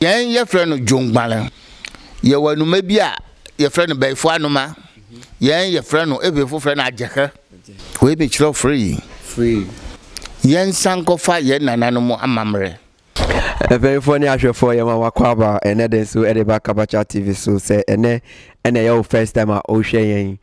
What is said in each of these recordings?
Yɛn yɛfrɛ no dwonguale. Yɛwɔ anoma bi a yɛfrɛ no bayifoɔ anoma. Yɛn yɛfrɛ no Evefoɔ frɛ no agyekɛ. Wei mekyerɛw free. Yɛn nsa nkɔfa yɛn nananom amammerɛ. Mpanyinfoɔ ne ahwɛfoɔ yɛma mo akwaaba ɛnɛ de nso ɛde ba Kabacha TV so sɛ ɛnɛ ɛna ɛyɛ wo first time a wohwɛ yɛn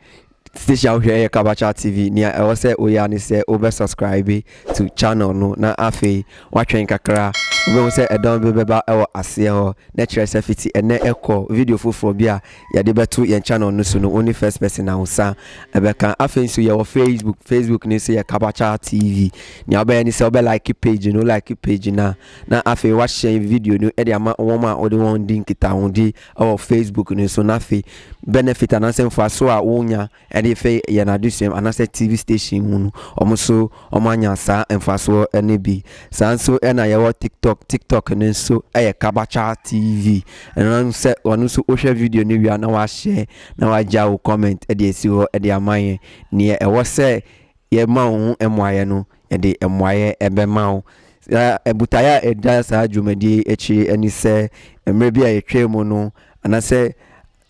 Station a wo hwɛ yɛ Kabakya TV, nea ɛwɔ sɛ wo yɛ ara ne sɛ wo bɛ subscribe to channel no na afei wa twɛn kakra, wo bɛ hu sɛ ɛdɔn bi bɛ ba wɔ aseɛ hɔ, na kyerɛ sɛ fiti ɛnɛ kɔ video foforɔ bi a yɛ de bɛ to yɛn channel no so no wo ne first person a wo nsa bɛ ka. Afei nso yɛ wɔ Facebook, Facebook no nso yɛ Kabakya TV, nea wo bɛ yɛ ne sɛ wo bɛ like page no, wo like page no a na afei wa share video no de ama wɔn a wo de wɔn di nkitahodie. wɔ Facebook no so, na afei benefit anaasɛ mfaso a wonya de fɛ yɛn adesuam anaasɛ TV station mu no, wɔn nso wɔanya saa mfasoɔ no bi. Saa nso na yɛwɔ TikTok, TikTok no nso yɛ Kabacha TV. Ɛno sɛ wɔn nso wohwɛ video no wie na wahyɛ na wagya wo comment de asi hɔ de ama yɛn. Neɛ ɛwɔ sɛ yɛma wo ho mmuaeɛ no, yɛde mmuaeɛ bɛma wo. Na botaeɛ a ɛda saa dwumadie yi akyi ne sɛ, mmerɛ bi a yɛtwaa mu no, anaasɛ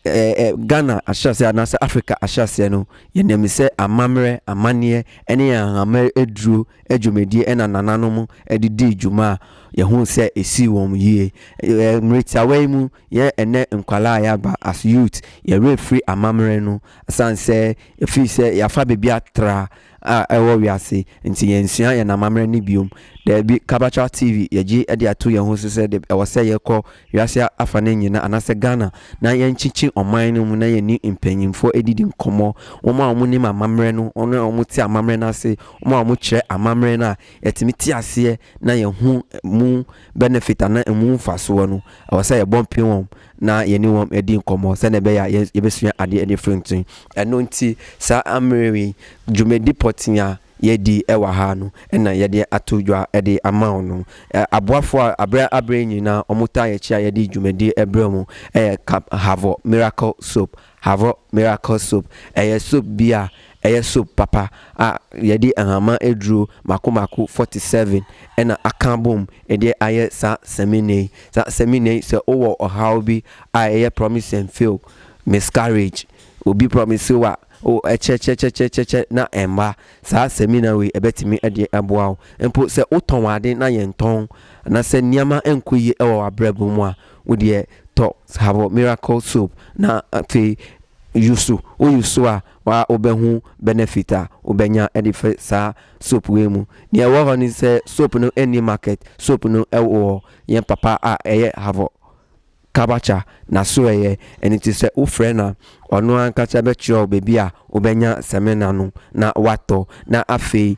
Ghana ahyɛaseɛ anaasɛ Africa ahyɛaseɛ no, yɛnim sɛ amammerɛ, amanneɛ ne ahahama aduro dwumadie na nananom de dii dwuma a yɛhuu sɛ ɛsii wɔn yie. Mmerɛ tiawa yi mu, Yɛn ɛnnɛ nkwadaa a yɛaba as youth, yɛn werɛ firi amammerɛ no ɛsiane sɛ ɛfiri sɛ yɛafa baabi atra a ɛwɔ wiase nti yɛnsua yɛn amammerɛ no bio. Daabi, Kabatra TV yɛgye de ato yɛn ho so sɛ deb ɛwɔ sɛ yɛkɔ wiase afa no nyinaa anaasɛ Ghana na yɛnkyekye ɔman no mu na yɛne mpanyinfoɔ ɛdidi nkɔmmɔ, wɔn a wɔnim amammerɛ no, wɔn a wɔte amammerɛ no ase, wɔn a wɔkyerɛ amammerɛ no a yɛtumi te aseɛ na yɛhu ɛmu benefit anaa ɛmu mfasoɔ no. Ɛwɔ sɛ yɛbɔ mpem wɔn na yɛne wɔn di nkɔmmɔ sɛdeɛ ɛbɛyɛ a yɛbɛsua adeɛ de afiri nti. Ɛno nti, saa ammerɛ yi, dwumadi pɔtee a yɛredi wɔ ha no na yɛde ato dwa de ama wo no. Aboafoɔ a aberɛ aberɛ nyinaa wɔtaa yɛn akyi a yɛde dwumadi brɛ wɔn yɛ Cab Havoc Miracle Soap Havok Miracle Soap, Ɛyɛ soap bi a ɛyɛ soap papa a yɛde nhama aduro mako mako 47 na aka abom de ayɛ saa samina yi. Saa samina yi sɛ wowɔ ɔhaw bi a ɛyɛ promise and fail, miscarriage, obi promise wo a o ɛkyɛkyɛkyɛkyɛkyɛkyɛ na ɛmma, saa samina wei ɛbɛtumi de aboa wo. Mpo sɛ wotɔn ade na yɛntɔn anaa sɛ nneɛma nkɔ yie wɔ w'abrabɔ mu a, Wo deɛ tɔ Sahabo miracle soap na afei use, wo use a waa wobɛhu benefit a wobɛnya de firi saa soap wei mu. Deɛ ɛwɔ hɔ ne sɛ soap no nni market, soap no wɔ yɛn papa a ɛyɛ Havo Kabakya n'asoɛeɛ, ɛno nti sɛ wofrɛ no a ɔno ankasa bɛkyerɛ wo baabi a wobɛnya samina no na woatɔ na afei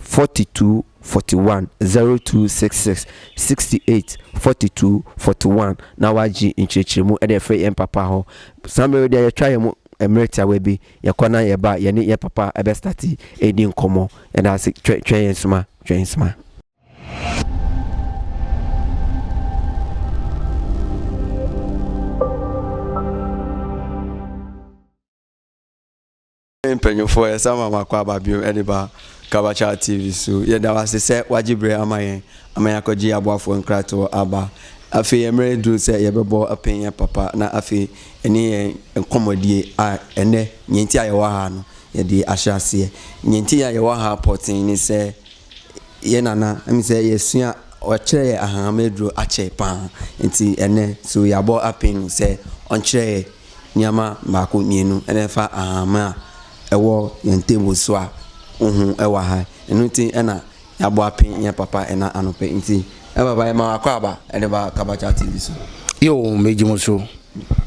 42410266684241 na wɔagye nkyerɛkyerɛmu de afiri yɛn papa hɔ. Saa mmerɛ yi deɛ yɛtwa yɛn mmerɛ tiawa bi, yɛkɔ na yɛba a, yɛne yɛn papa bɛ starte ɛredi nkɔmmɔ. Yɛda wo ase, twɛn, twɛn yɛn soma, twɛn yɛn soma. Hey mpanyinfoɔ yɛsan ma makɔ aba biom ɛde ba Kabachal TV so yɛda wase sɛ wagye berɛ ama yɛn ama yɛakɔgye yɛn aboafoɔ nkratoɔ aba afei yɛn mmerɛ aduru sɛ yɛbɛbɔ apɛn yɛn papa na afei ɛne yɛn nkɔmmɔdie a ɛnɛ nea nti a yɛwɔ ha no yɛde ahyɛ aseɛ nea nti a yɛwɔ ha pɔten ne sɛ yɛ nana ɛmi sɛ yɛsua ɔkyerɛ yɛ ahahama aduro akyɛ paa nti ɛnɛ so yɛabɔ apɛn no sɛ ɔnkyerɛ yɛ Nneɛma mmaako mmienu na ɛfa ahahammono a ɛwɔ yɛn table so a wo ho wɔ ha. Ɛno nti na yɛabɔ apee yɛn papa ɛna anɔpɛ nti. Yɛn papa yɛma wo akwaaba ɛde ba Kabakya TV so. Yoo megye mo so.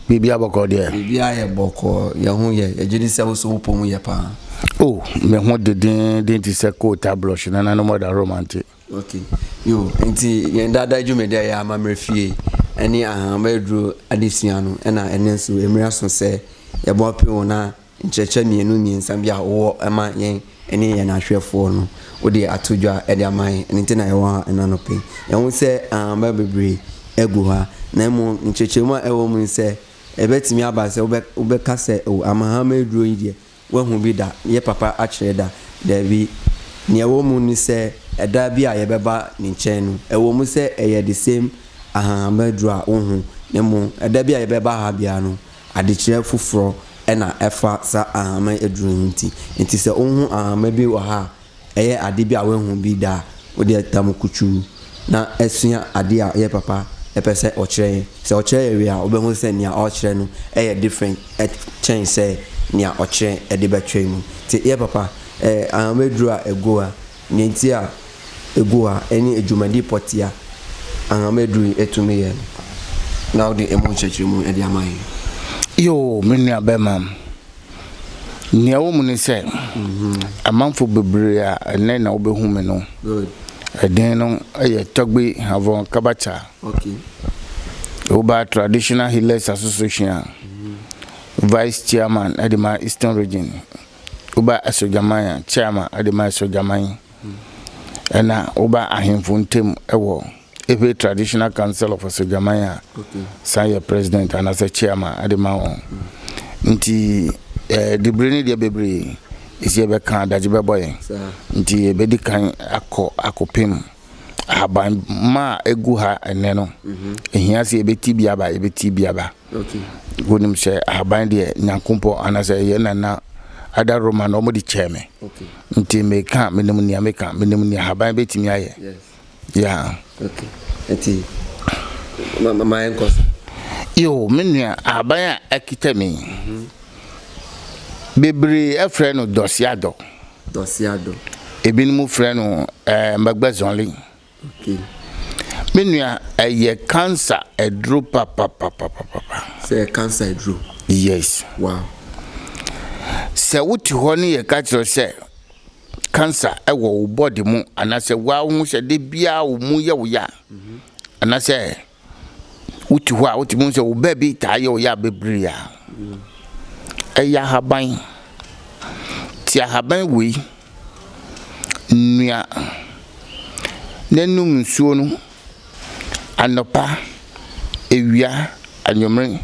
Biribiara bɔkɔɔ deɛ? Biribiara yɛ bɔkɔɔ. Yɛn ho yɛ. Yɛgye di sɛ wo nso wo pɔ mu yɛ paa. Oh, me ho de denden te sɛ coal tar blush, nananom ɔda hɔ ma nte. Okay. Yo, nti yɛn daadaa dwumadi a ɛyɛ amammerɛ fie ne Ahama Aduro adesua no na ɛno nso mmiri aso sɛ yɛboa pɛn wɔn a nkyerɛkyerɛ mmienu mmiɛnsa bi a wowɔ ma yɛn ne yɛn ahwɛfoɔ no wode ato dwa de ama yɛn ɛno nti na yɛwɔ ha ɛna nɔpɛ yɛn ho sɛ ahama bebree agu ha na mmom nkyerɛkyerɛmu a ɛwɔ mu sɛ ɛbɛtumi aba sɛ wobɛka sɛ o amahama aduro yi deɛ Woahu bi da? Yɛ papa akyerɛ da? Dabi. Nea ɛwɔ mu ne sɛ, ɛda bi a yɛbɛba ne nkyɛn no, ɛwom sɛ ɛyɛ the same ahanhamma aduru a wohu no mmom, ɛda bi a yɛbɛba ha biara no, adekyerɛ foforɔ na ɛfa saa ahanhamma aduru yi ho nti. Enti sɛ wohu ahanhamma bi wɔ ha a, Ɛyɛ ade bi a woahu bi da a wode ata mu kutuu na asua ade a ɛyɛ papa pɛ sɛ ɔkyerɛ yɛn. Sɛ ɔkyerɛ yɛn wie a, wobɛhu sɛ nea ɔrekyerɛ no yɛ different kyɛn sɛ nea ɔkyerɛ de bɛkyerɛ mu. Nti ɛyɛ papa. Ahama aduru a ɛgo a, nea enti a ɛgo a ɛne dwumadi pɔtee a ahama aduru yi tumi yɛ no, na wode ɛmu nkyerɛkyerɛmu de ama yɛn. Yoo, me nuabarimanom. Nea ɛwɔ mu ne sɛ, amanfo bebree a ɛnnɛ na wobehu me no, ɛdin no yɛ Togbe Havon Kabacha. Woba Traditional Healers Association a, Vice Chairman de ma Eastern Region. Woba Asogyaman a, Chairman de ma Asogyaman. Ɛnna woba ahemfo ntam wɔ Ewe Traditional Council of Asogyaman a san yɛ president anaasɛ chairman de ma wɔn. Nti eh, dibere no deɛ bebree ɛsi ɛbɛka adagye bɛbɔ yɛn. Nti yɛbɛdi kan akɔ akɔpem ahaban ma a ɛgu ha ɛnɛ no. Ɛhia mhm. sɛ yɛbɛti bi aba, yɛbɛti bi aba. Wonim sɛ ahaban deɛ nyankompɔ anaasɛ ɛyɛ nana ada Roma na wɔde kyɛɛ me. Nti meka menim nea meka menim nea ahaban bɛtumi ayɛ. Yes. Yeah. Okay. Eti ma ma ma yɛnkɔ so. Yo, me nua, ahaban a akita me yi, bebree frɛ no dɔseadɔ. Dɔseadɔ. Ebinom frɛ no ɛɛ mbagbazɔli. Okay. Me nua, ɛyɛ kansa aduro papapapapapa. Sɛ yɛ kansa aduro. Yes. Wow. Sɛ wote hɔ ne yɛka kyerɛ sɛ cancer wɔ wo body mu anaasɛ woa wo ho sɛ da biara wo mu yɛ wo ya anaasɛ wote hɔ a wotumi hu sɛ wo baa bi taa yɛ wo ya bebree a ɛyɛ ahaban ti ahaban wei nnua n'anum nsuo no anɔpa, awia, anwummere,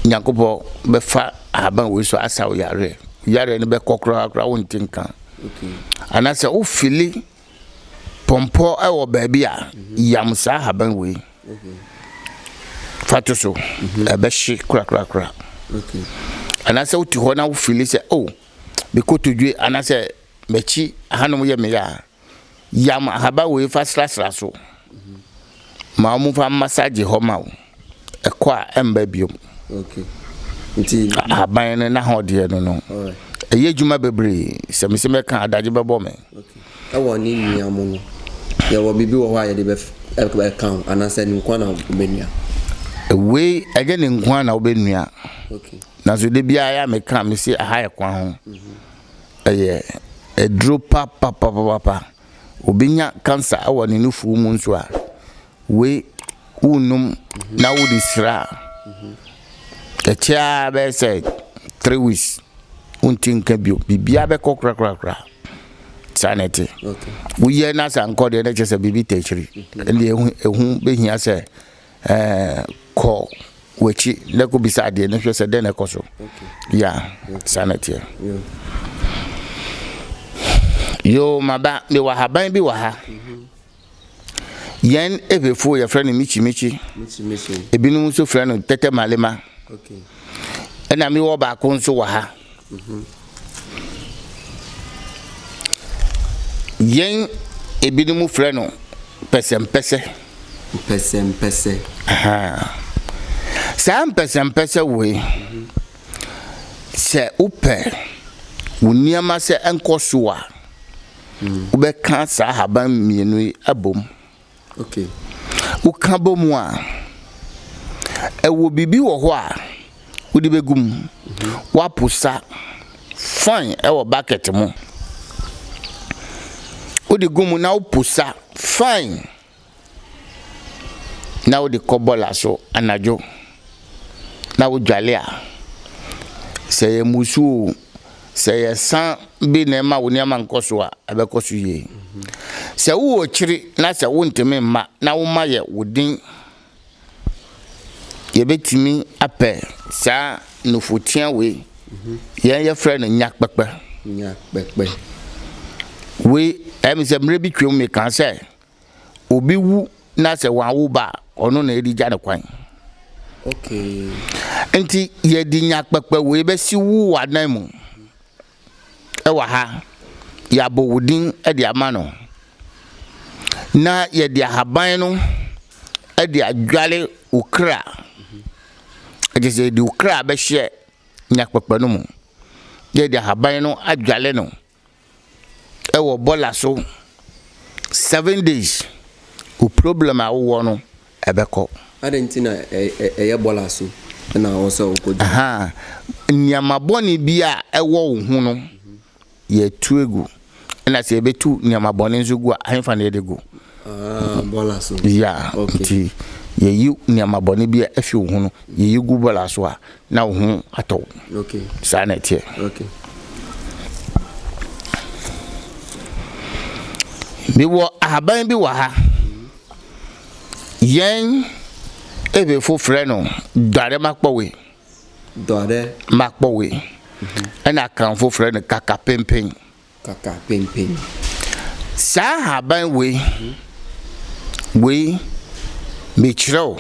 Nyankopɔn bɛfa ahaban wei so asa wo yareɛ. Yareɛ no bɛkɔ koraa koraa wonte nka. Anaasɛ wofili pɔmpɔ wɔ baabi a, yam saa ahaban wei. Fa to so, ɛbɛhye korakorakora. Anaasɛ wote hɔ na wofili sɛ, oh, me kotodwe anaasɛ m'akyi hanom yɛ me ya a, Yam ahaba wei fa srasra so ma wɔn fa masagye hɔ ma wo. Ɛkɔ a ɛmba biom. Okay. Nti ahaban no na ho deɛ no no. Ɛyɛ adwuma bebree. Sɛ mese mɛka adagye bɛbɔ me. Okay. Ɛwɔ ne nua mu no. Yɛwɔ biribi wɔ hɔ a yɛde bɛka ho anaasɛ ne nkoa na wobɛnua. Wei ɛnyɛ ne nkoa na wobɛnua. Okay. Nanso de biara ya meka mese aha ɛkwa ho. Mm -hmm. ɛyɛ aduro papapapapa. Obi nya cancer ɛwɔ ne nufoɔ mu nso a, wei wo nom na wo de sira a, ɛkyɛ ara bɛyɛ sɛ three weeks wo nti nka bio. Biribiara bɛkɔ korakorakora. Saa na ɛte. Woyɛ na sɛ ankɔ deɛ na ɛkyɛ sɛ biribi tɛ akyiri. Ɛnna ehu ehun behia sɛ. Ɛɛ kɔ w'akyi na kɔ bisa adeɛ na hwɛ sɛ dɛn na ɛkɔ so. Ya, saa na ɛteɛ. Yoo maba, mewɔ ahaban bi wɔ ha. Yɛn Ewefoɔ yɛfrɛ no mikyi mikyi. Ebinom nso frɛ no tɛtɛ malema. Ɛna mewɔ baako nso wɔ ha. Yɛn ebinom frɛ no pɛsɛmpɛsɛ. Pɛsɛmpɛsɛ. Saa mpɛsɛmpɛsɛ wei, sɛ wopɛ wo nneɛma sɛ ɛnkɔ so a, wobɛka saa ahaban mmienu yi abom. Woka bɔ mu a, ɛwɔ biribi wɔ hɔ a wode bɛgu mu. Woaposa fan wɔ bucket mu. Wode gu mu na woposa fan na wode kɔ bɔɔla so anadwo. na wodwale a, sɛ ɛyɛ mmusu oo, sɛ ɛyɛ sa bi na ɛma wo nneɛma nkɔ so a, ɛbɛkɔ so yie. Sɛ wowɔ akyiri na sɛ wontumi mma na wo mma yɛ wo den, yɛbɛtumi apɛ saa nufoteaa wei, yɛn yɛfrɛ no nyakpɛkpɛ. Nyakpɛkpɛ. Wei, ɛyɛ me sɛ mmerɛ bi twam mekaa sɛ, obi wu na sɛ wɔawo ba a, ɔno na ɛde gya no kwan. Okay. Nti yɛde nya kpɛkpɛ wei bɛsi wo w'anan mu ɛwɔ ha yɛabɔ wo din de ama no na yɛde ahaban no de adwale wo kra ɛkyɛ sɛ yɛde wo kra bɛhyɛ nyakpakpa no mu yɛde ahaban no adwale no wɔ bɔla so seven days wo problem a wowɔ no ɛbɛkɔ. Adɛn nti na ɛyɛ bɔla so na wɔ sɛ wokɔ gym? Nneɛma bɔne bi a ɛwɔ wo ho no yɛtu egu ɛna sɛ yɛbɛtu nneɛma bɔne nso gu a ahemfa na yɛde gu. Ah, bɔla so. Yeah, okay. nti yɛyi nneɛma bɔne bi a afi wo ho no yɛyi gu bɔla so a na wo ho atɔ wo. Okay. Saa na ɛteɛ. Okay. Mewɔ ahaban bi wɔ ha. Yɛn Ebefo frɛ no dɔre makpɔwe. Dɔre. Makpɔwe. Mhm. Ɛna Akanfo frɛ no kakapempen. kakapempem. Saa nhaban wei wei mekyerɛ wo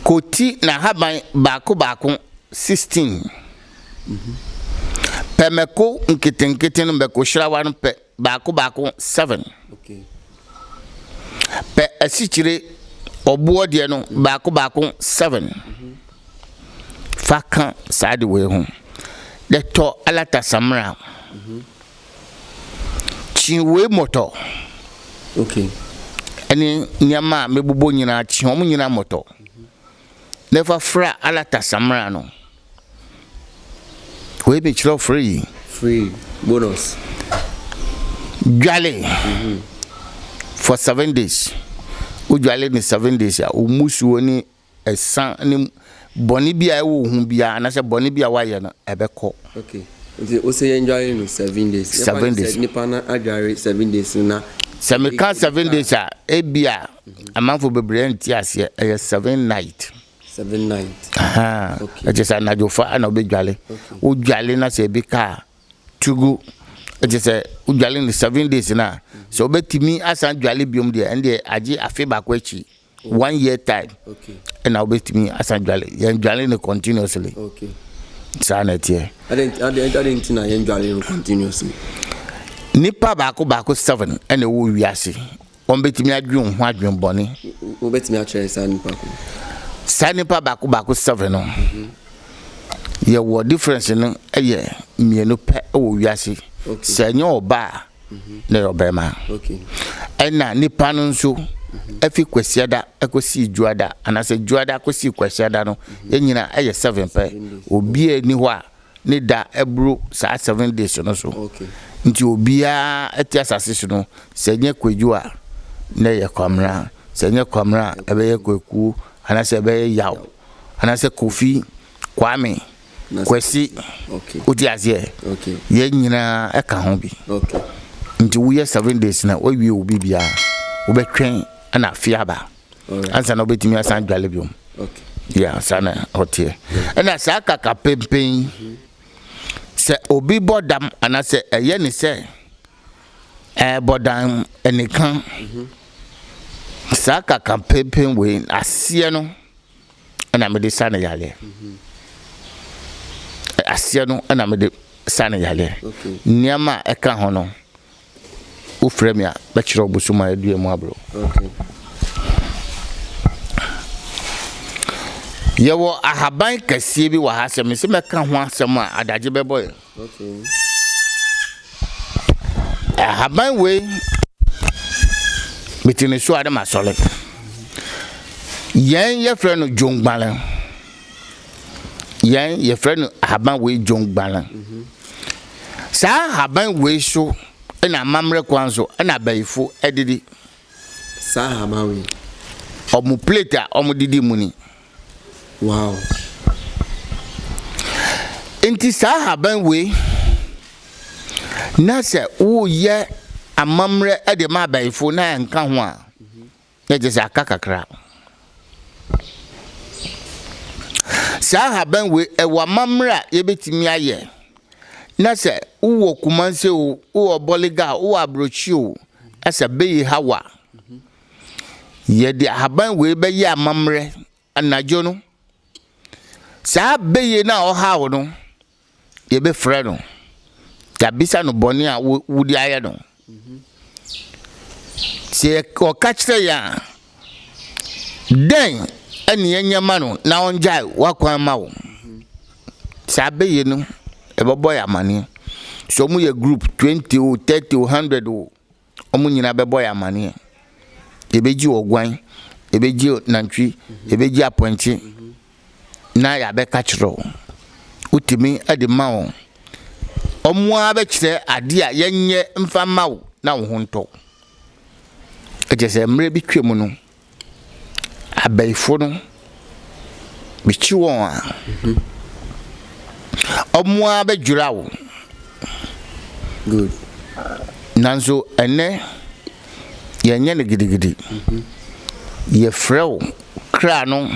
koti n'ahaban baako baako sixteen pɛ mako nketenkete no mako hyirawa no pɛ baako baako seven pɛ asikyire ɔboɔ deɛ no baako baako seven. fa ka saa ade wei ho, Dɛtɔ alata samena, kyiowei mɔtɔ, ɛne nneɛma a mebobɔ nyinaa kyi wɔn nyinaa mɔtɔ, na fa fra alata samena no. Wei ne kyerɛw free. Free bonus. Dwale for seven days. Wodwale ne seven days a, wo musuo ne ɛsa ne bɔne bi a ɛwɔ wo ho biara anaasɛ bɔne bi a woayɛ no, ɛbɛkɔ. Okay, nti wose yɛndware no seven days? Seven days. Sɛ nipa no adware seven days no na. Sɛ meka seven days a, ebi a amanfo bebree nte aseɛ, ɛyɛ seven night. Seven night. Ahaa. Okay. Ɛkyɛ sɛ anadwofa na wobɛdwale. Okay. Wodwale na sɛ ebi ka a, tugu. Ɛkyɛ sɛ wodwale no seven days no a, sɛ wobɛtumi asan dwale biom deɛ, ɛndeɛ agye afe baako akyi. one year time ɛna wobɛtumi asan dwale yɛn dwale no continuously saa na ɛteɛ nipa baako baako seven ɛna ɛwɔ wiase wɔn bɛtumi adwen ho adwen bɔne wobɛtumi akyerɛ saa nipa ko saa nipa baako baako seven no yɛwɔ difference no ɛyɛ mmienu pɛ ɛwɔ wiase sɛ ɛnyɛ ɔbaa na yɛ ɔbarima. Ɛna nipa no nso ɛfi kwasiada ɛkɔsi dwuada anaasɛ dwuada kɔsi kwasiada no yɛn nyina ɛyɛ seven pɛ obi a ni hɔ a ne da ɛboro saa seven days no so nti obiara ɛte asase so no sɛ nyɛ kwadwo a na ɛyɛ kwamena sɛ nyɛ kwamena a ɛbɛyɛ kwakuo anaasɛ ɛbɛyɛ yaw anaasɛ kofi Kwame, Kwasi, wote aseɛ? Yɛn nyinaa ka ho bi. Nti woyɛ seven days na woawie wo biribiara, wobɛtwɛn na afe aba ansa na wobɛtumi asan dwale biom. Yeah, saa na ɔteɛ. Ɛna saa kaka pempen yi, mhm. sɛ obi bɔ dam anaasɛ ɛyɛ ne sɛ ɛbɔ dam ɛnika mhm. saa kaka pempen wei aseɛ no na mede sa no yareɛ. Aseɛ no na mede sa no yareɛ. Nneɛma a ɛka ho no, wofrɛ me a, mɛkyerɛ wo bosom a ɛdua mu abrɛ Yɛwɔ ahaban kɛseɛ bi wɔ ha sɛ mese mɛka ho asɛm a, adagye bɛbɔ yɛn. Ahaban wei mete ne so a na masɔre yɛn yɛfrɛ no dwongbale yɛn yɛfrɛ no ahaban wei dwongbale saa ahaban wei so na amammerɛ kwan so na abayifo didi saa ahaban wei ɔmo plate a ɔmo didi mu ni Wow. Nti saa haban wei na sɛ woyɛ amammerɛ de ma abayifo na ɛnka ho a na gye sɛ aka kakra. Saa haban wei ɛwɔ amammerɛ a yɛbɛtumi ayɛ na sɛ wowɔ Kumase o, wowɔ Bɔlega o, wowɔ Aburokyi o, asa bɛyi hawa. Yɛde ahaban wei bɛyɛ amammerɛ anadwo no. Saa bɛyɛ no a ɔhaw no, yɛbɛfrɛ no, yɛabisa no bɔne a wode ayɛ no. Sɛ ɔka kyerɛ yɛn a, dɛn ɛne yɛnyɛ ma no na ɔngyae wakwan ma wo? Saa bɛyɛ no, ɛbɛbɔ yɛ amaneɛ. Sɛ wɔyɛ group 20 o, 30 o, 100 o, Wɔn nyinaa bɛbɔ yɛn amaneɛ. Yɛbɛgye ɔguan, yɛbɛgye nantwi, yɛbɛgye apɔnkye na yɛabɛka kyerɛ wo. Wotumi de ma wɔn. Wɔn ara bɛkyerɛ adeɛ a yɛnyɛ mfa mma wo na wo ho ntɔ wo. Ɛkyɛ sɛ mmerɛ bi twam no, Abayifo no, mikyi wɔn a, wɔn ara bɛdwira wo. Good. Nanso ɛnnɛ, yɛnyɛ no gidigidi. Yɛfrɛ wo kra no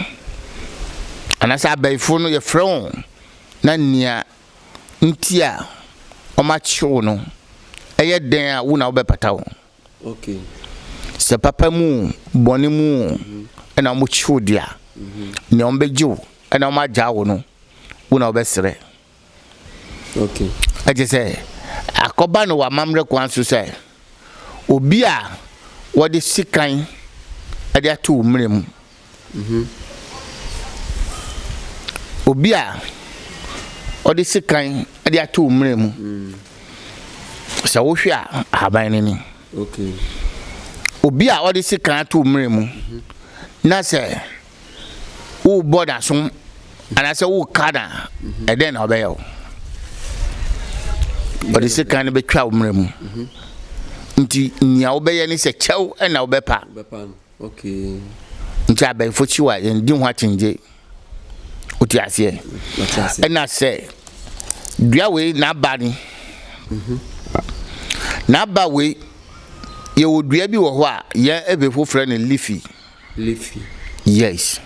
anaasɛ abayifo no yɛfrɛ wo na nea nti a wɔakye wo no, ɛyɛ dɛn a wo na wobɛpata wo. Sɛ papa mu o, bɔne mu o, ɛna wɔkyi wo deɛ a, nea wɔbɛgye wo na wɔagyaa wo no, wo na wobɛsrɛ. Ɛte sɛ akɔba no wɔ amammerɛ kwan so sɛ obi a wɔde sekan de ato wo mmerɛ mu. Obi a ɔde sekan de ato mmura mu. Sɛ wohwɛ a, ahaban no ni. Obi a ɔde sekan ato mmura mu na sɛ wobɔ n'asom anaasɛ woka no a, ɛdɛn na ɔbɛyɛ wo? Ɔde sekan no bɛtwa wo mmura mu. Nti nea wobɛyɛ ne sɛ kyɛw na wobɛpa. Ntsi abaefo kyiw a, yɛnngye ho akyingye. Otse aseɛ? Nna sɛ dua wei n'aba ne, n'aba wei, yɛwɔ dua bi wɔ hɔ a yɛn Efifo frɛ no leafy. Leafy. Yes.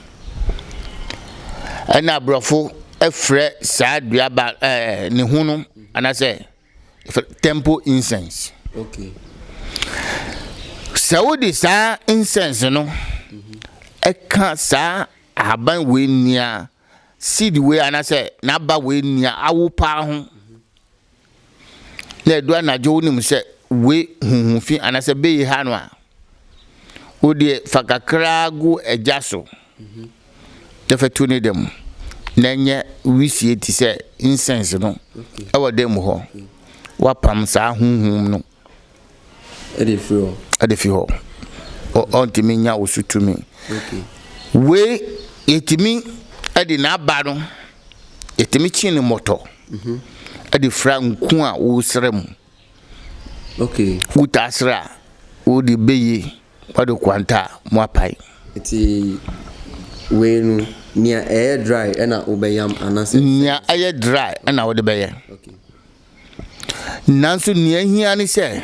Nna Aborɔfo frɛ saa dua ba ɛɛ ne ho no, anaasɛ temple incense. Okay. Sɛ wode saa incense no mm-hmm. ɛka saa ahaban wei nua seed wei anaasɛ n'aba wei nua awo paa ho mm-hmm. na ɛdu anadwo wonim sɛ wei huhu fi anaasɛ bɛyi ha no a Wo deɛ fa kakraa gu agya so na fa tu ne dɛm na ɛnyɛ wisie te sɛ incense no ɛwɔ dɛm mu hɔ. Woapam saa honhom no de fi hɔ. Ɔntumi nya wo so tumi. Wei yɛtumi de n'aba no yɛtumi kye no mmɔtɔ de fira nku a woresra mu. Okay. Wo taa srɛ a, wo de bɛ yie, wa de kwanta a, mo apae. Nti wei no, nea ɛyɛ dry ɛna wo bɛ yam anasɛ? Nea ɛyɛ dry ɛna wo de bɛ yɛ. Okay. Nanso nea ɛhia ne sɛ,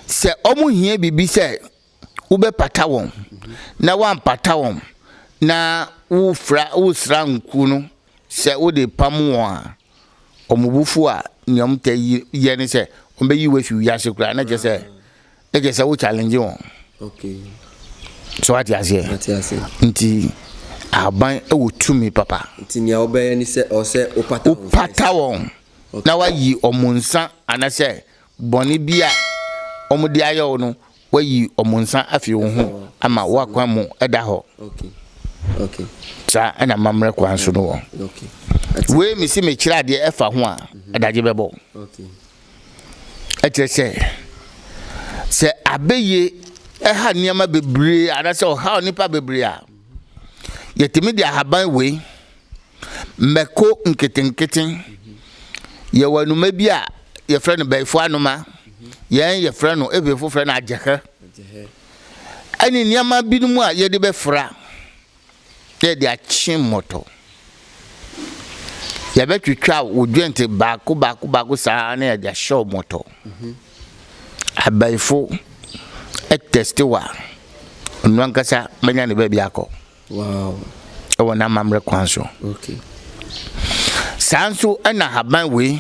sɛ ɔmo hia biribi sɛ. wobɛpata wɔn na woampata wɔn na wofra wosra nkuo no sɛ wode pam wɔn a wɔn bo fu a nea wɔn tɛ yi yɛ ne sɛ wɔn bɛyi wo afi wiase koraa na kyerɛ sɛ na kyerɛ sɛ wo challenge wɔn okay so wate aseɛ nti aban wɔ tumi papa nti nea wobɛyɛ ne sɛ ɔsɛ wopata wopata wɔn na wayi wɔn nsa anasɛ bɔne bi a wɔde ayɛ wo no, wɔayi wɔn nsa afi wo ho ama w'akwan mu da hɔ. Saa na amammerɛ kwan so no wɔ. Wei mesi mekyerɛ adeɛ ɛfa ho a, mhm. adagye bɛbɔ. Ɛkyerɛ sɛ, sɛ abɛyie ɛha nneɛma bebree anaasɛ ɔhaw nnipa bebree a, yɛtumi de ahaban wei Mmako nketenkete. Yɛwɔ anoma bi a yɛfrɛ no bɛɛfo anoma. Yɛn yɛfrɛ no, Ebrefo frɛ no agyehɛ. Ɛne nneɛma binom a yɛde bɛfra na yɛde akye mmɔtɔ. Yɛbɛtwitwa wo dwente baako baako baako saa na yɛde ahyɛ wo mmɔtɔ. Abɛɛfo ɛtɛste wo a, ɔno ankasa bɛnya ne baabi akɔ. wɔ n'amammerɛ kwan so. Saa nso na haban wei,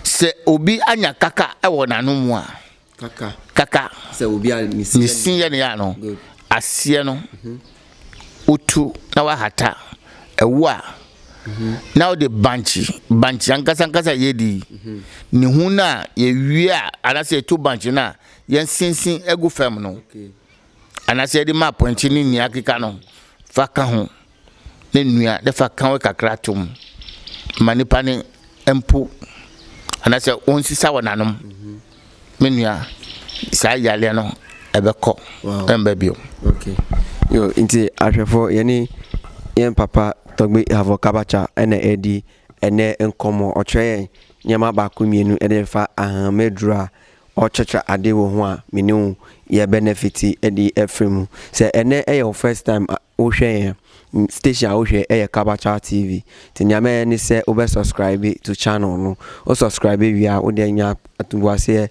sɛ obi anya kaka wɔ n'ano mu a, kaka, ne sin yɛ ne yɛ ano, aseɛ no, wotu na wahata, ɛwo a, na wode bankye, bankye ankasa ankasa yɛdi, ne ho no a yɛwie a, anaasɛ yɛto bankye no a, yɛnsensen agu fam no. anaasɛ yɛde ma apɔnkye ne nea akeka no fa ka ho na nnua de fa ka wɔ kakra to mu ma nipa ne mpo anaasɛ wɔnsisa wɔn anom me nua saa yareɛ no ɛbɛkɔ ɛmba bio okay. yo nti ahwɛfoɔ yɛne yɛn papa tɔgbe havɔ kabacha ɛna ɛdi ɛnɛ nkɔmmɔ ɔkyerɛ yɛn nneɛma baako mmienu ɛde fa ahameduro a Ɔkyerɛkyerɛ ade wɔ ho a me ne wo yɛ bɛnɛfete de afiri mu. Sɛ ɛnnɛ yɛ wo first time a wohwɛ yɛn a, station a wohwɛ yɛ Kabacha TV. Nti nea mɛyɛ ne sɛ wobɛ subscribe to channel no. Wo subscribe wie a, wode anya atoboaseɛ.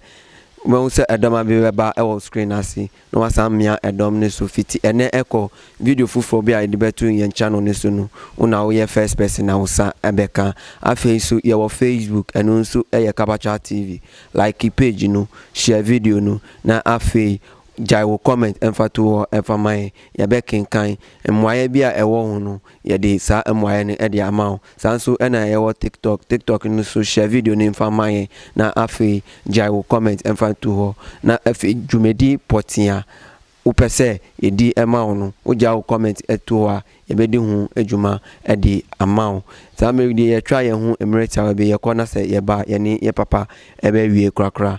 Wobɛhu sɛ ɛdɔma bi bɛba wɔ screen no ase. na wɔasan mia dɔm no so fitsi ndɛ kɔ. Video fofor bi a yɛdze bɛto hɛn channel no so no, wo na woyɛ first person a wo nsa bɛkã. Afei so, yɛwɔ Facebook, no so yɛ Kabakyaa TV. Like page no, share video no, na afei gyae wo comment mfa to hɔ mfa ma hɛn. Yɛbɛkenkan. Mbuaeɛ bi a ɛwɔ ho no, Yɛde saa mmuaeɛ no de ama wo. Saa nso na yɛwɔ TikTok. TikTok no nso share video no mfa ma yɛn na afei gyae wo comment mfa to hɔ. Na afei dwumadi pɔtee a wopɛ sɛ yɛdi ma wo no, wogyae wo comment to hɔ a, yɛbɛdi ho dwuma de ama wo. Saa mmerɛ yi deɛ yɛtwa yɛn ho mmerɛ tiawa bi, yɛkɔ na sɛ yɛba a, yɛne yɛn papa bɛwie korakora.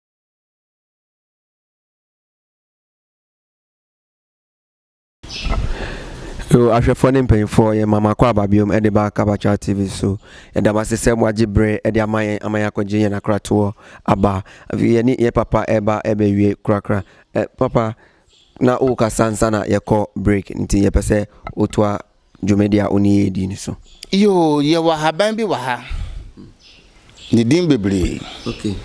So ahwɛfoɔ ne mpanyinfoɔ yɛ mama kɔ aba biom de ba Kabakyal TV so ɛda mo ase sɛ mo agye bere de ama yɛn ama yɛn akɔgye yɛn akratoɔ aba afei yɛne yɛ papa ɛba ɛbɛwie korakora ɛ papa na wokasa nsa na yɛkɔ break nti yɛpɛ sɛ wotoa dwumadi a onii yi di no so. Yoo, yɛwɔ haban bi wɔ ha. Ne din bebree. Okay.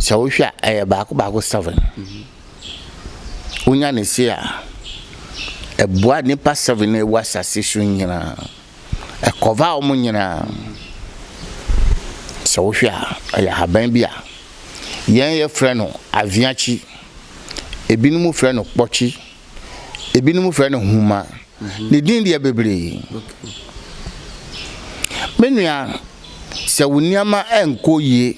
Sɛ wohwɛ a, ɛyɛ baako baako seven. Mhm. Wonya ne se a, ɛboa nipa seven na ɛwɔ asase so nyinaa. Ɛkɔva wɔn nyinaa. Sɛ wohwɛ a, ɛyɛ haban bi a yɛn yɛfrɛ no aviakyi. Ebinom frɛ no kpɔkye. Ebinom frɛ no huma. Ne din deɛ bebree. Me nua, sɛ wo nneɛma nkɔ yie,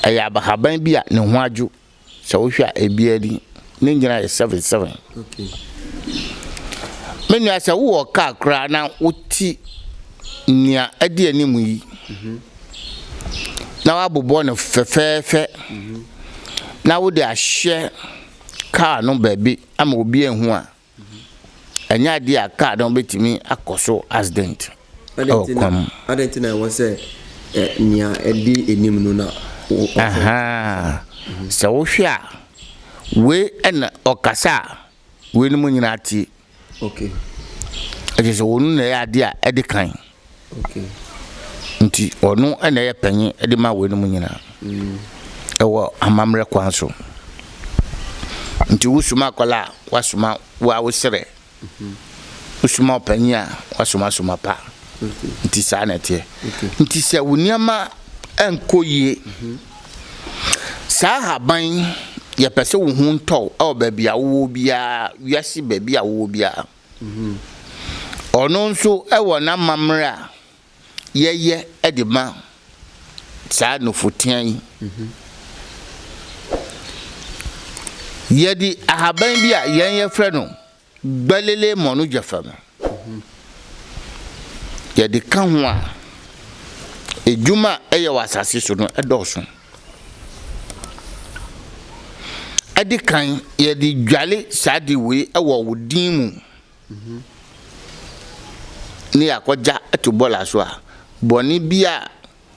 ɛyɛ abahaban bi a ne ho adwo. Sɛ wohwɛ a, ebiara ni. Ne nnyina yɛ seven seven. Me nua, sɛ wowɔ kaa koraa na wote nea ɛdi anim yi, na woabobɔ no fɛfɛɛfɛ, na wode ahyɛ kaa no baabi ama obi anhu a, Ɛnyɛ adeɛ a kaa no bɛtumi akɔ so accident wɔ kwan mu. Adɛn nti na ɛwɔ sɛ nea ɛdi anim no na wɔkasa? Sɛ wohwɛ a, wei na ɔkasa a weinom nyinaa tie. Ɛkyerɛ sɛ wɔn na ɛyɛ adeɛ a ɛdi kan. Nti ɔno na ɛyɛ panyin de ma weinom nyinaa ɛwɔ amammerɛ kwan so. Nti wosoma akwadaa a, wasoma wo a wosrɛ. Wosoma ɔpanyin a, wasoma soma pa. Nti saa na ɛteɛ. Nti sɛ wo nneɛma nkɔ yie, saa ahaban yi, yɛpɛ sɛ wo ho ntɔ wo wɔ baabi a wowɔ biara, wiase baabi a wowɔ biara. Ɔno nso wɔ n'amammerɛ a yɛyɛ de ma saa nufotea yi. Yɛde ahaban bi a yɛn yɛfrɛ no Gbalele Mɔnogyafa no, yɛde ka ho a, adwuma a ɛyɛ wɔ asase so no dɔɔso. Ɛdi kan, yɛde dwale saa ade wei wɔ wo din mu. Ne yɛakɔgya ato bɔɔla so a, bɔne bi a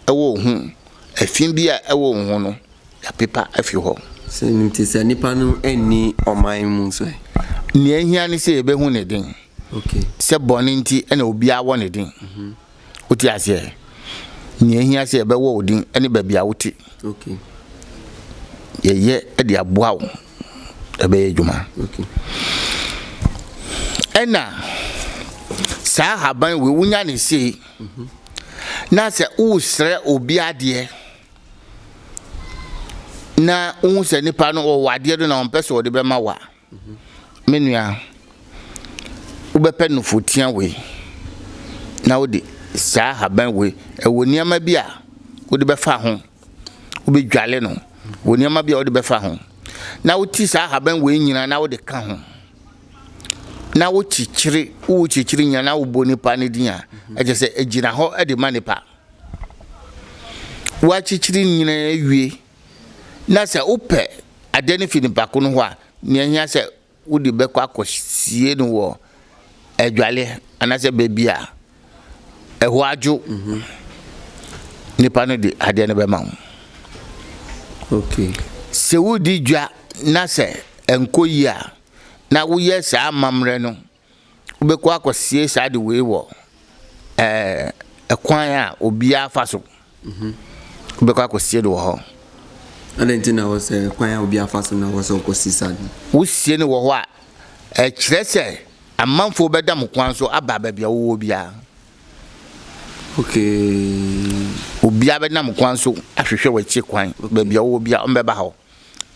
ɛwɔ wo ho, ɛfi bi a ɛwɔ wo ho no, yɛapepa afi hɔ. Sɛ ɛno nti, sɛ nipa no nni ɔman mu nso ɛ? Nea ehia ne sɛ yɛbɛhu ne den. Okay. Sɛ bɔne nti na obiara wɔ ne den. Wote aseɛ? Nea ehia sɛ yɛbɛwɔ wo din ne baabi a wote. Okay. Yɛyɛ de aboa wo ɛbɛyɛ adwuma. Okay. Ɛna saa haban wei wonya ne sei. Mm -hmm. Na sɛ wosrɛ obi adeɛ na wohu sɛ nipa no ɔwɔ adeɛ no na ɔmpɛ sɛ ɔde bɛma wo a. Me nua, wobɛpɛ nufotia wei na wode saa haban wei, ɛwɔ nneɛma bi a wode bɛfa ho, wobɛdwale no wɔ nneɛma bi a wode bɛfa ho, na woti saa haban wei nyinaa na wode ka ho, na wokyekyere, wokyekyere nyinaa na wobɔ nipa no din a, ɛkyɛ sɛ ɛgyina hɔ de ma nipa. Woakyekyere nyinaa wie. Na sɛ wopɛ adeɛ no firi nipa ko no hɔ a, nea ɛhia sɛ wode bɛkɔ akɔsie no wɔ adwaleɛ anaasɛ baabi a ɛhɔ adwo nipa no de adeɛ no bɛma wo. Okay. Sɛ wodi dwa na sɛ ɛnkɔ yie a, na woyɛ saa amammerɛ no wobɛkɔ akɔsie saa de wei wɔ ɛkwan a obiara fa so wobɛkɔ akɔsie no wɔ hɔ adɛn nti na wɔ sɛ kwan a obiara fa so na wɔ sɛ wokɔsi saa de wosie no wɔ hɔ a ɛkyerɛ sɛ amanfoɔ bɛda mo kwan so aba baabi a wowɔ biara okay obiara bɛnam kwan so ahwehwɛ w'akyi kwan baabi a wowɔ biara ɔmbɛba hɔ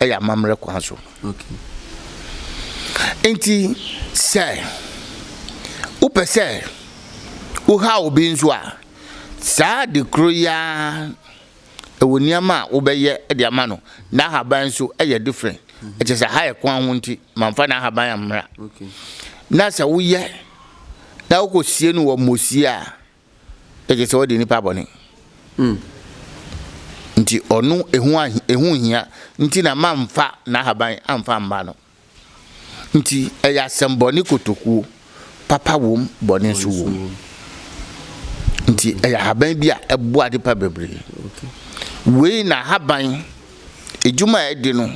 yɛ amammerɛ kwan so. Enti sɛ wopɛ sɛ wohaw obi nso a, saa ade koro yi ara, ɛwɔ nneɛma a wobɛyɛ de ama no. N'ahaban nso yɛ different. Ɛkyɛ sɛ ha yɛ kwan ho nti, mamfa n'ahaban ammra. Na sɛ woyɛ na wokɔsie no wɔ mmosie a, gye sɛ ɔde nnipa bɔne. Nti ɔno ehu a ehu hia nti na mamfa n'ahaban amfa mma no. Nti ɛyɛ asɛmmɔne kotokuo, papa wom, bɔne nso wom. Nti ɛyɛ ahaban bi a ɛboa adepa bebree. Wei na ahaban edwuma a ɛde no,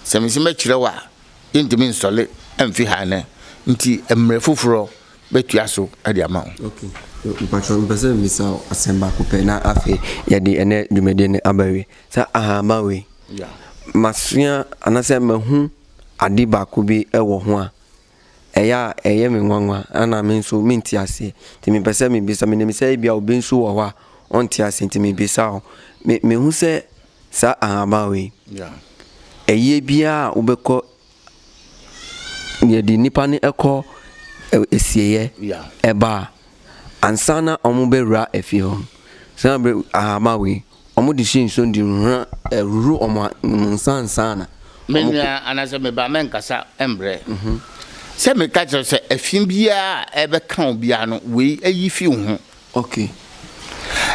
sɛ mese mɛkyerɛ wo a, yɛntumi nsɔle mfi ha nnɛ. Nti mmerɛ foforɔ bɛtua so de ama wo. Ok, mpakyɛw mepɛ sɛ mebisa wo asɛm baako pɛ na afei yɛde ɛnnɛ dwumadie no aba awie. Saa ahahamma wei, masua anaasɛ mahu ade baako bi wɔ ho a, ɛyɛ a ɛyɛ me nwanwa na me nso mente aseɛ. Nti mepɛ sɛ mebisa, menim sɛ ebia obi nso wɔ hɔ a ɔnte aseɛ nti mebisa wo. Me, mehu sɛ saa ahahamma wei, ɛyɛ biara a wobɛkɔ Yɛde nnipa no kɔ asieɛ ɛba a, ansa na wɔbɛwura afie hɔ no, saa berɛ ahaba wei, wɔde hyɛ nsuo no de hura huhuru wɔn nsa ansa na. Me nua anaasɛ me ba mɛnkasa mbrɛ sɛ meka kyerɛ sɛ ɛfi biara a ɛbɛka wo biara no wei ayi fi wo ho. Ok.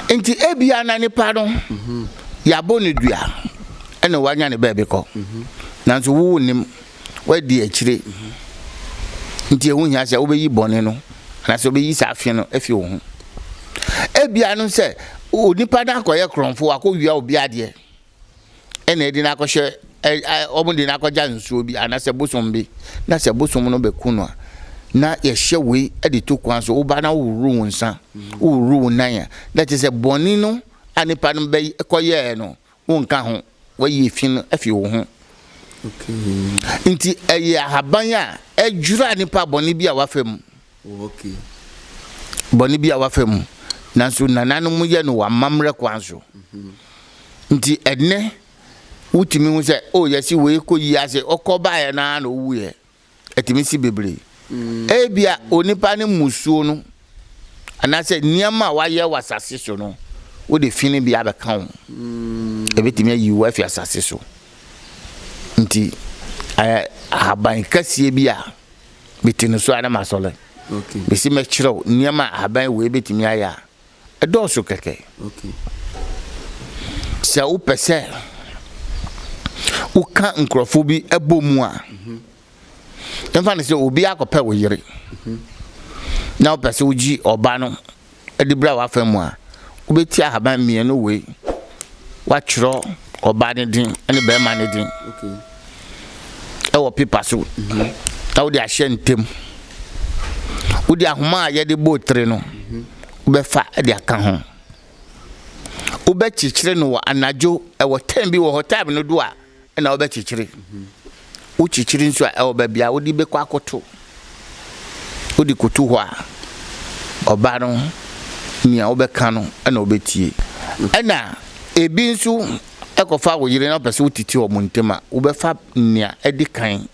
Nti ebia na nipa no yɛabɔ no dua ɛna wanya ne baabi kɔ. Nanso wo wonim, woadi akyire. Nti ɛho hia sɛ wobɛyi bɔne no anaasɛ wobɛyi saa fe no afi wo ho. Ebia no sɛ onipa no akɔyɛ korɔmfo, wakɔwia obi adeɛ. ɛna ɛde no akɔhyɛ ɛ ɛ wɔn de no akɔgya nsuo bi anaasɛ bosom bi na sɛ bosom no bɛku no a na yɛhyɛ wei de to kwan so woba na wohohoro wo nsa wohohoro wo nan a na kyerɛ sɛ bɔne no a nipa no bɛkɔyɛɛ no wonka ho wayi efi no afi wo ho nti ɛyɛ ahaban a ɛdwira nipa bɔne bi a wafa mu Bɔne bi a wafa mu, nanso nananom yɛ no wɔ amammerɛ kwan so. Nti ɛnnɛ wotumi hu sɛ, o yɛsi wei kɔ yi ase, ɔkɔ baeɛ no ara na owuiɛ. Ɛtumi si bebree. Mm. Ebia onipa no mmusuo no, anaasɛ nneɛma a wayɛ wɔ asase so no, wode fi no bi abɛka wo. Mm. Ɛbɛtumi ayi wo afi asase so. Nti ahaban kɛseɛ bi a Mete no so ara na masɔre. Mese mɛkyerɛ wo nneɛma a ahaban wei bɛtumi ayɛ a, ɛdɔɔso kɛkɛ. Sɛ wopɛ sɛ woka nkurɔfoɔ bi bɔ mu a, mfa no sɛ obi akɔpɛ wo yere na wopɛ sɛ wogye ɔba no de bra w'afa mu a, wobɛti ahaban mmienu wei. Woatwerɛ ɔbaa no din ne bɛrima no din ɛwɔ pepa so mhm. na wode ahyɛ ntɛm. Wode ahoma a yɛde bɔ tire no mhm. wobɛfa de aka ho. Wobɛkyekyere no wɔ anadwo ɛwɔ tɛm bi wɔ hɔ tɛm no do a na wobɛkyekyere. Wokyekyere nso a, ɛwɔ baabi a wode bɛkɔ akɔto. Wode kɔto hɔ a, ɔba no, nea wobɛka no na ɔbɛtie. Ɛna ebi nso kɔfa wo yere na wopɛ sɛ wotete wɔn ntam a, wobɛfa nea ɛdi kan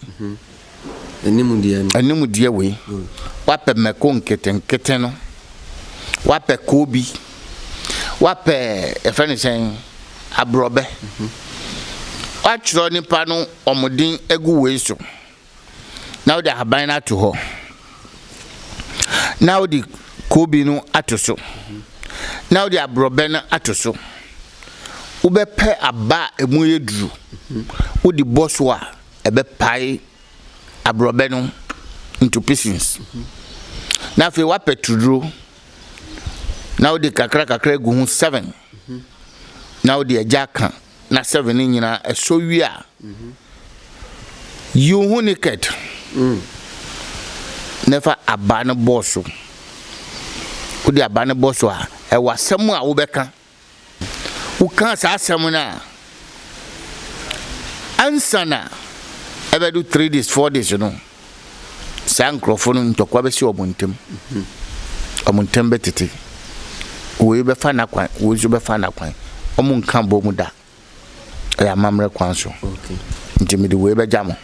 Animdeɛ wei wapɛ mako nketenkete no wapɛ koobi wapɛ yɛfrɛ no sɛn aborɔbɛ watwerɛ nipa no wɔn din agu wei so na wode ahaban no ato hɔ na wode koobi no ato so na wode aborɔbɛ no ato so wobɛpɛ aba a ɛmu yɛ duru wode bɔ so a ɛbɛpae aborɔbɛ no into pieces na afei woapɛ turduro na wode kakra kakra agu ho seven na wode agya aka na seven no nyinaa ɛsɔ wie a yiw ho naked na ɛfa aba no bɔɔ so wode aba no bɔ so a ɛwɔ asɛm a wobɛka wokaa saa asɛm no a, ansa na ɛbɛdo three days, four days no, saa nkurɔfo no ntɔkwa bɛsi wɔn ntam. Wɔn ntam bɛtete. Wei bɛfa n'akwan, wei nso bɛfa n'akwan. Wɔn nka bɔ mu da. Ɛyɛ amammerɛ kwan so. Nti mede wei bɛgya mo.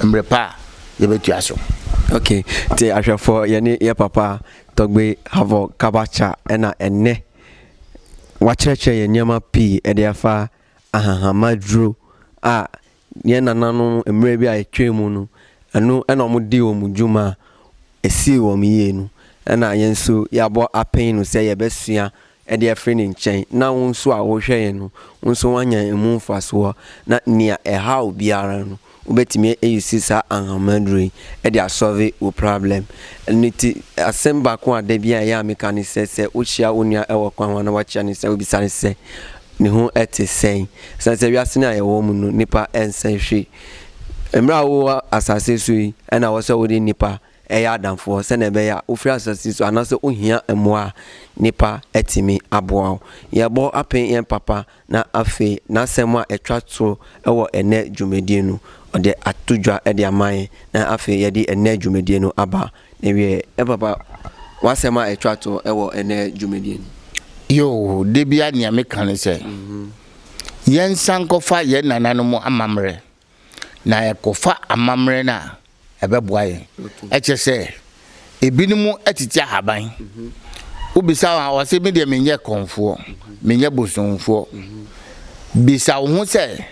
Mmerɛ pa a yɛbɛtua so. Okay, te ahwɛfoɔ yɛne yɛ papa Tɔgbe Havoc Kabacha ɛna ɛnɛ wɔakyerɛkyerɛ yɛn nneɛma pii de afa ahahamma duro a yɛn nananom mmerɛ bi a ɛtwaa mu no, ɛno na wɔdii wɔn dwuma a ɛsii wɔn yie no. Ɛna yɛn nso yɛabɔ apee no sɛ yɛbɛsua de afiri ne nkyɛn na wo nso a worehwɛ yɛn no, wo nso woanya ɛmu mfasoɔ na nea ɛhaw biara no, Wobɛtumi a use saa anhama aduro yi de a solve wo problem. Ɛno ti asɛm baako a da biara ɛyɛ a meka ne sɛ, sɛ wo hyia wo nua wɔ kwan ho anaa wakyia ne sɛ wo bisa ne sɛ, ne ho te sɛn? Ɛsiane sɛ wiase no a yɛwɔ mu no nnipa nsɛ hwee. Mmerɛ a wowɔ asase so yi ɛna ɛwɔ sɛ wode nnipa yɛ adamfoɔ sɛdeɛ ɛbɛyɛ a wofiri asase so anaa sɛ wohia mmoa a nnipa atumi aboa wo. Yɛbɔ apen yɛn papa. Na afei, n'asɛm a ɛtwa to wɔ ɛnnɛ dwumadie no, ɔde ato dwa de ama yɛn, na afei yɛde ɛnnɛ dwumadie no aba n'awieɛ. Ɛ papa, w'asɛm a ɛtwa to wɔ ɛnnɛ dwumadie no? Yoo, da biara nea meka ne sɛ, yɛnsan nkɔfa yɛn nananom amammerɛ. na yɛkɔfa amammerɛ no a, ɛbɛboa yɛn. Ɛkyerɛ sɛ, ebinom tete ahaban. Wobisa wɔn a, wɔse, Me deɛ menyɛ kɔmfoɔ, menyɛ bosomfoɔ. Bisa wo ho sɛ,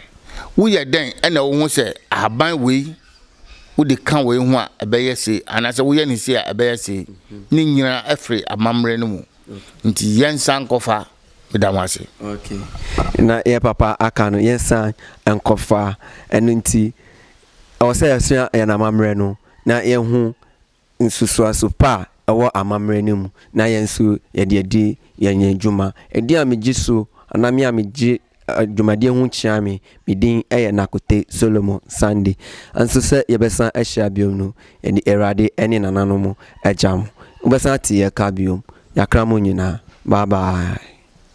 Woyɛ dɛn na wohu sɛ ahaban wei, wode ka wei ho a, ɛbɛyɛ sei, anaasɛ woyɛ no sei a, ɛbɛyɛ sei? Ne nyinaa firi amammerɛ no mu. Nti yɛnsan nkɔfa. Meda mo ase. Okay. Na yɛ papa aka no yɛnsan nkɔfa. Ɛno nti ɛwɔ sɛ yɛsua yɛn amammerɛ no na yɛhu nsusuaso pa a ɛwɔ amammerɛ no mu na yɛn nso yɛde adi yɛn dwuma. Ɛdin a megye so anaa me a megye dwumadie ho kyeaa me, me din yɛ Nakote Solomon Sande, nso sɛ yɛbɛsan ahyia biom no, yɛde Awurade ne nananom agya mo. Wobɛsan ate yɛn ka biom. Yɛakra mo nyinaa. Bye bye.